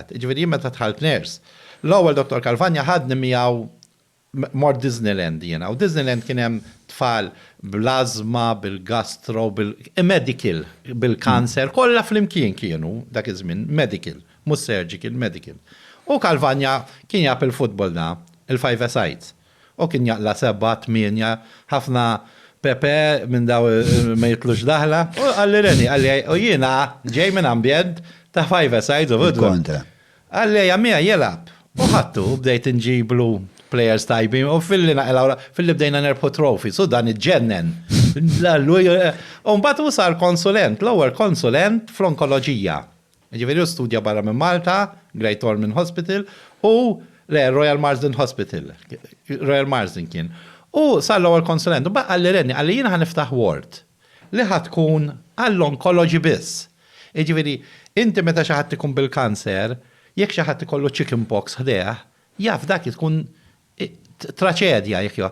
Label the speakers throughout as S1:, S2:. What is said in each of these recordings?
S1: Ġeneralizzat. Jiġifieri jien meta dħalt nurse, l-ewwel Dottor Calvagna ħadni miegħu mort Disneyland jiena u Disneyland kien hemm tfal bl-ażma, bil-gastro, bil, medical, bil-kanser, kollha flimkien kienu dak iż-żmien, medical, mhux surgical, medical. U Calvagna kien jaf il-futbol da, il-five-a-sides. Hu kien jaqla' sebgħa, tmienja, ħafna pepe minn dawn ma jitlux daħla. U qalli Reni, qalli u jiena ġej minn ambjent ta' five sides of Udvar. Kontra. Qalli ejja miegħi ilgħab. U ħadtu u bdejt inġiblu players tajbin u filli naqilgħu filli bdejna nerbħu trophies u dan iġġennen. U mbagħad hu sar konsulent, l-ewwel konsulent fl-onkoloġija. Jiġifieri hu studja barra minn Malta, Great Ormond Hospital, u, le, Royal Marsden Hospital, Royal Marsden kien. U sar l-ewwel konsulent, u mbagħad qalli Rennie, qalli jiena ħa niftaħ ward li ħa tkun għall-onkoloġi biss. Jiġifieri, inti meta xi ħadd ikun bil-kanser, jekk xi ħadd ikollu chicken pox ħdejh, jaf dak tkun Traċedja jekk jo.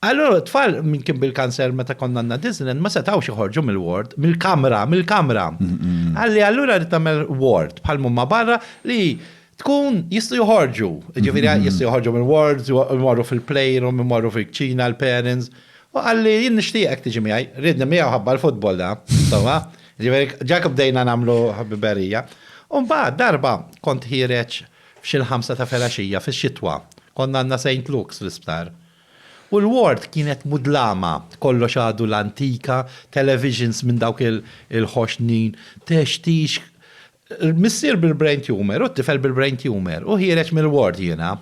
S1: Allora tfal minn kien bil-kanser meta konna għandna Disneyland ma setgħux joħorġu mill-ward, mill-kamra, mill-kamra. Għalli allura rrid tagħmel ward bħal mumma barra li tkun jistgħu joħorġu. Ġifieri jistgħu joħorġu mill-wards, imorru fil-playroom, imorru fil-kċina l-parents. U għalli jien nixtieqek tiġi miegħi, ridni miegħu ħabba l-futbol da, insomma. Ġifieri ġak bdejna nagħmlu ħabiberija. U mbagħad darba kont ħireġ F'xi l-ħamsa ta' filgħaxija fix-xitwa, kont għandna Saint Luke's fl-isptar. U l-ward kienet mudlama, kollox għadu l-antika, televisions minn dawk il-ħoxnin, textix. Missier bil-brain tumour u t-tifel bil-brain tumour, u ħiereġ mill-ward jiena.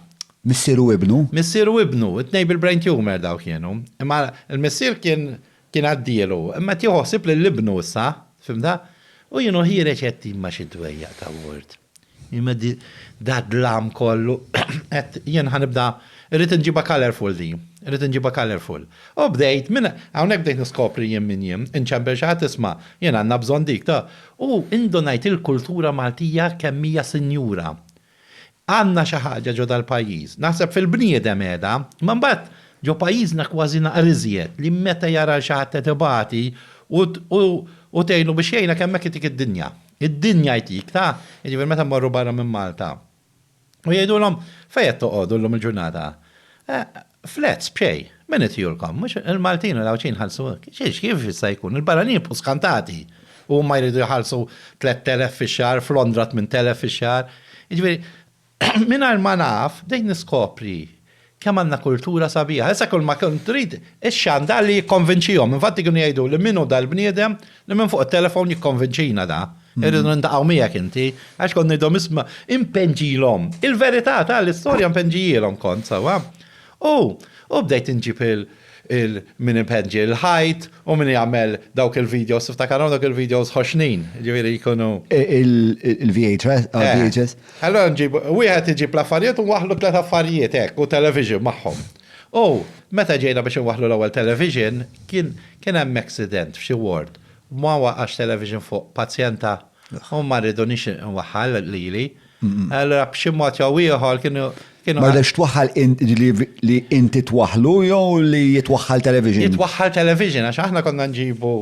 S1: Missier u ibnu?
S2: Missier u ibnu,
S1: it-tnejn bil-brain tumour dawk kienu. Imma l-missier kien Kien għaddielu, imma qed jieħu ħsieb lil ibnu issa, fhimtha? U jien u hi reċetti ma' xi dwejjaq ta' ward. Imma dad-dlam kollu, għedt, jien ħa nibda, irrid inġibha colourful din, irrid inġibha colourful. U bdejt, minn hawnhekk bdejt niskopri jien min jien, inċempel xi ħadd isma', jien għandna bżonn dik, ta', u indunajt il-kultura Maltija kemm hija sinjura. Għandna xi ħaġa ġo dal-pajjiż, naħseb fil-bniedem qiegħda, imma mbagħad ġo pajjiżna kważi naqra iżjed, li meta jara lil xi ħadd qed ibati u u tgħinu biex jgħinek hemmhekk jtik id-dinja. Id-dinja jtik, ta? Jiġifieri meta mmorru barra minn Malta u jgħidulhom fejn qed toqogħdu llum il-ġurnata? Eh, Flats, b'xejn. Min itihulkom? Mhux il-Maltin u l-Għawdxin jħallsu hekk? Xiex, kif jista' jkun? Il-barranin jibqgħu skantati u huma jridu jħallsu 3,000 fix-xahar, f'Londra 8,000 fix-xahar. Jiġifieri, mingħajr ma naf, bdejt niskopri kemm għandna kultura sabiħa. Issa kull ma kont trid, ix-xandall li jikkonvinċihom. Infatti kienu jgħiduli min hu dal-bniedem Li minn fuq it-telefon jikkonvinċina da, irridu nintaqgħu miegħek inti, għax kont ngħidhom isma' impenġilhom. Il-verità ta' l-istorja impenġijielhom kont sewwa. U u bdejt inġib il min ipenġi l-ħajt u min jagħmel dawk il-videos, tiftakarhom dawk il-videos ħoxnin, jiġifieri jkunu. Il-VHS.
S2: Allura nġib,
S1: wieħed iġib l-affarijiet u nwaħħlu tliet affarijiet hekk u television magħhom. U meta ġejna biex inwaħħlu l-ewwel television, kien kien hemm accident f'xi ward, u ma waqax television fuq pazjenta u ma rridunix inwaħħal lili. Allura b'xi mod jew ieħor kienu kienu. Ma rridekx twaħħal
S2: li inti twaħħlu jew li jitwaħħal television? Jitwaħħal television
S1: għax aħna konna nġibu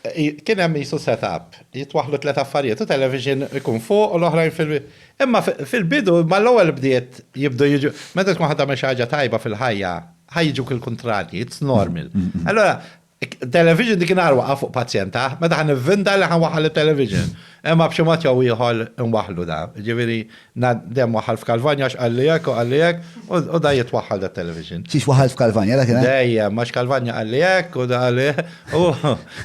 S1: Kien hemm qisu set-up, jitwaħħlu tliet affarijiet u television ikun fuq u l-oħrajn fil-, imma fil-bidu mal-ewwel bdiet jibdu jiġu, meta tkun ħa tagħmel xi ħaġa tajba fil-ħajja ħa jiġuk il-kuntrarji, it's normal. Allura television dik in-nhar waqa' fuq pazjent aħ, meta ħa nivvinta li ħa nwaħħal it-television, imma b'xi mod jew ieħor inwaħħlu da, jiġifieri Na dem waħħal f'Kalvanja għax qalli hekk u qalli hekk u da jrid twaħħal dat-television. Xiex waħħal f'Kalvanja dak
S2: il-għan? Dejjem, għax Kalvanja
S1: qalli hekk u da qalli hekk u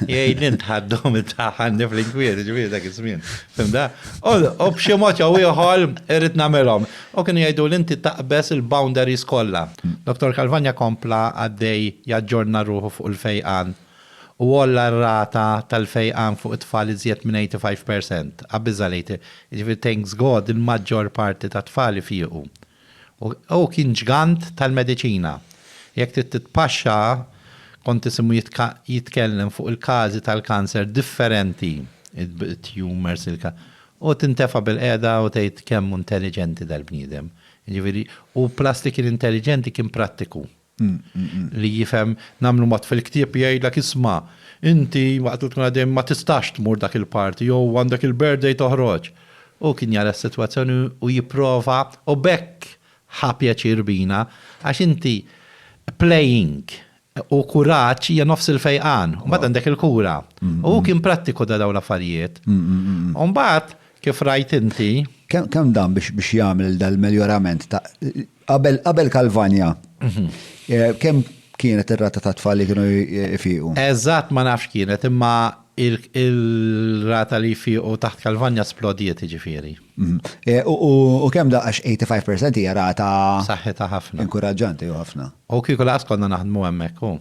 S1: jgħidli ntħaddu minn taħt għandi fl-inkwiet, jiġifieri dak iż-żmien. Fimda? U b'xi mod jew ieħor irrid nagħmilhom. U kienu jgħiduli inti taqbeż il-boundaries kollha. Dottor Kalvanja kompla għaddej jaġġorna ruħu fuq il-fejqan u għolla r-rata tal-fejqan fuq it-tfal iżjed minn 85 per cent, qabbiżha late, jiġifieri thanks God il-maġġor parti tat-tfal ifiequ. Hu kien ġgant tal-mediċina. Jekk trid titpaxxa, kont tisimgħu jitkellem fuq il-każi tal-kanser differenti, it-tumors, u tintefa' bilqiegħda u tgħid kemm hu intelliġenti dal-bniedem. Jiġifieri, hu plus li kien intelliġenti kien prattiku. Li jifhem nagħmlu mod fil-ktieb jgħidlek isma' inti waqt li tkun għaddej ma tistax tmur dak il-party jew għandek il-birthday toħroġ. Hu kien jara s-sitwazzjoni u jipprova u b'hekk ħa pjaċir bina għax inti playing u kuraġġ hija nofs il-fejqan u mbagħad għandek il-kura. U hu kien prattiku ta' dawn l-affarijiet. U mbagħad kif rajt inti. Kemm dan
S2: biex jagħmel dal-melljorament ta' Qabel qabel Kalvanja, eh, kemm kienet ir-rata ta' tfal li kienu jfiqu? Eżatt ma nafx
S1: kienet, imma il- il-rata li jfiqu taħt Kalvanja splodiet ġifieri. Mhm. Eh, U u-
S2: u kemm daqax 85% hija rata Saħħitha ħafna.
S1: inkuraġġanti u ħafna.
S2: U kieku laqas konna
S1: naħdmu hemmhekk hu.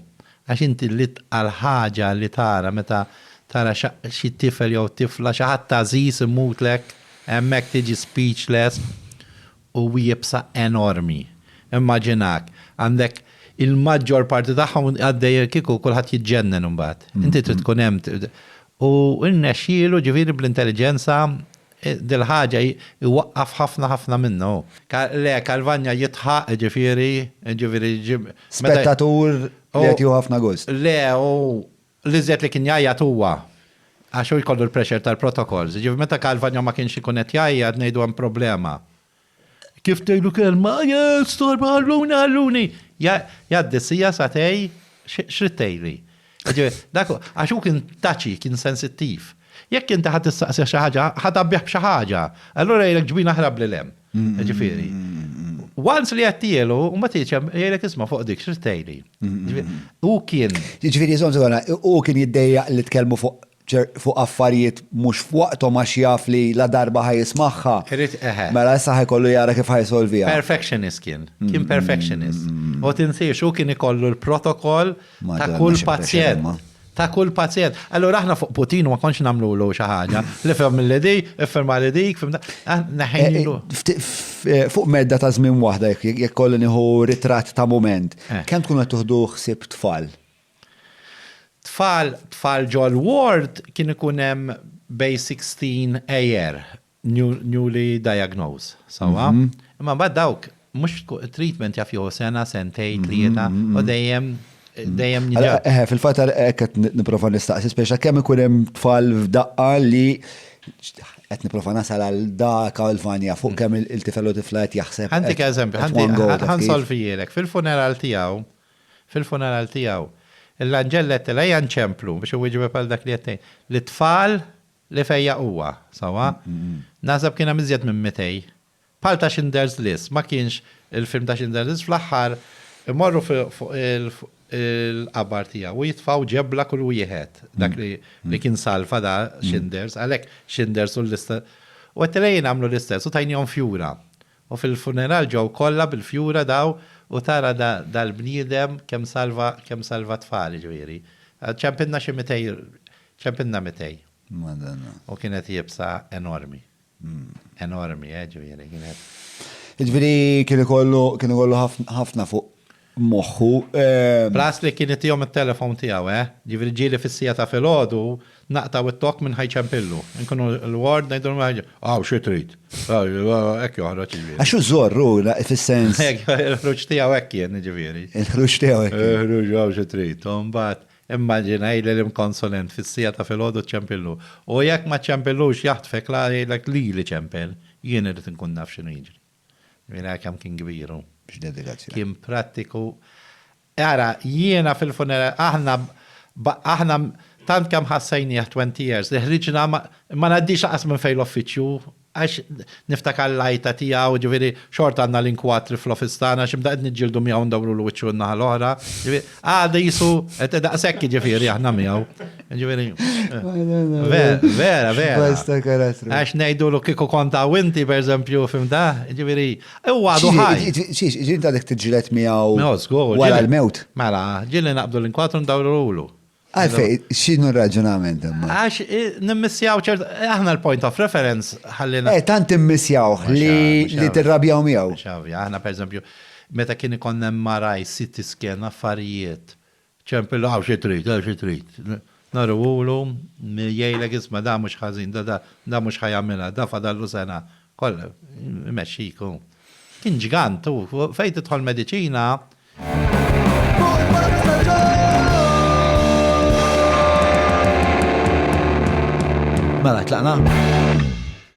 S1: Għax inti l-itqal ħaġa li tara meta tara xa- xi tifel jew tifla xi ħadd għażiż imutlek hemmhekk tiġi speechless u iebsa enormi. Immaġinak, għandek il-maġġor parti tagħhom għaddej kieku kulħadd jiġġennen imbagħad. Inti trid tkun hemm. U rnexxielu ġifieri bl-intelliġenza dil-ħaġa jwaqqaf ħafna ħafna minnha hu. Le, Calvagna jidħaq, jiġifieri, jiġifieri. Spettatur
S2: li qed jieħu ħafna gost. Le, hu
S1: L-iżjed li kien jgħajjat huwa għax hu jkollu l-pressure tal-protocols. Jiġifieri meta Calvagno ma kienx ikun qed jgħajjat ngħidu hemm problema. Kif tgħidlu kelma, Ajjaj, storb, ħalluni, ħalluni! Jgħaddi s-siegħa, sagħtej, x'ridt tgħidli? Jiġifieri, dak hu, għax hu kien touchy, kien sensittiv. Jekk inti ħa tistaqsih xi ħaġa, ħa tgħabbih b'xi ħaġa. Allura jgħidlek ġbin aħrab lil hemm. Ġifieri, Once li għattielu, u ma tiċem, jgħidlek isma fuq dik, xirtejli. U kien. Ġifiri, zonzu għana,
S2: u kien jiddejja li tkellmu fuq affarijiet mux fuqtom għax jaf li la darba ħaj jismaħħa. Irrit eħe. Mela jessa ħaj kollu jara kif ħaj solvija. Perfectionist kien,
S1: kien perfectionist. U tinsiex, u kien ikollu l-protokoll Ta' kull pazjent. Ta' kull pazjent. Allura aħna fuq Putin ma konx nagħmlulu xi ħaġa. Li fem li di, ifferma li dik, fem ah, neħejlu. Eh,
S2: eh, fuq medda ta' żmien waħda jekk kollu nieħu ritratt ta' mument, eh. kemm tkun qed tuħdu ħsieb tfal? Tfal,
S1: tfal ġol ward kien ikun hemm bej 16 ejer newly diagnosed, sewwa? Imma mbagħad dawk mhux treatment jaf jieħu sena, sentejn, tlieta, u dejjem dejjem jiġu.
S2: Eħe, fil-fatt hekk qed nipprova nistaqsi speċa kemm ikun hemm tfal f'daqqa li qed nipprova nasal għal dak għal vanja fuq kemm il-tifel u tifla qed jaħseb. Ħantik eżempju,
S1: ħansolvijilek fil-funeral tiegħu, fil-funeral tiegħu, l-anġelletti la janċemplu biex iwieġbek għal dak li qed tgħid. L-itfal Li fejjaq huwa, sewwa? Naħseb kien hemm iżjed minn mitej. Bħal ta' Schindler's List, ma kienx il-film ta' Schindler's List fl-aħħar imorru fuq il-qabar tiegħu u jitfgħu ġebla kull wieħed, dak li kien salva da Schinders, għalhekk Schinders u l-lista. U għedtilha jien għamlu l-istess u tajnihom fjura. U fil-funeral ġew kollha bil-fjura daw u tara dal-bniedem kemm salva kemm salva tfal jiġifieri. Ċempilna xi mitej ċempilna mitej. Madonna. U kienet iebsa enormi. Enormi, eh, jiġifieri kienet. Jiġifieri
S2: kien ikollu kien ikollu ħafna fuq moħħu. Plus
S1: li kien itihom it-telephone tiegħu, eh? Jiġifieri ġieli fis-siegħa ta' filgħodu naqtgħu t-tokk minn Ħaj Ċempillu. Inkunu l-ward ngħidulhom Ħaj Ċempillu, Aw, xi trid? Hekk joħroġ jiġifieri. Għax hu żorr hu,
S2: fis-sens. Il-ħruġ tiegħu
S1: hekk kien jiġifieri. Il-ħruġ tiegħu hekk.
S2: Il-ħruġ hawn xi trid.
S1: U mbagħad immaġina jgħidli l-imkonsulent fis-siegħa ta' filgħodu ċ-Ċempillu. U jekk ma ċċempillux jaħtfek la jgħidlek lili ċempel. Jien irrid inkun naf x'inhu jiġri. Mingħajr kemm kien kbir hu. X'dedikazzjoni. Kien prattiku. Ara, jiena fil-funeral, aħna, aħna tant kemm ħassejnieh twenty years li ħriġna ma, ma ngħaddix lanqas minn fejn l-uffiċċju għax niftakar l-għajta tiegħu, ġifieri xorta għandna l-inkwatri fl-office tagħna x'imda qed niġġieldu miegħu ndawrulu wiċċu n-naħa l-oħra, ġifieri, Għada jisu, għet daqsek ġifiri aħna miegħu. Ġifiri. Vera, vera, vera. Basta karattru. Għax nejdu l kiku konta winti, per eżempju, fim da, ġifiri. U għadu ħaj. Xiex, ġin ta' dik
S2: t-ġilet miegħu. Wara l-mewt. Mela, ġili naqbdu
S1: l-inkwatru ndawru l-ulu. Għalfej,
S2: xinu raġunament imma? Għax nimmissjaw
S1: ċert, aħna l-point of reference ħallina. Eh, tant immissjaw
S2: li tirrabjaw miegħu. Xavja, aħna per eżempju,
S1: meta kien ikonna maraj city scan affarijiet, ċempillu għaw xi trid, għaw xi trid. Naru ulu, jgħidlek isma' da mhux ħażin, da da da mhux ħajamilha, da fadallu sena Kollha jmexxik hu. Kien ġgant hu, fejn tidħol mediċina. Mela,
S2: tlaqna?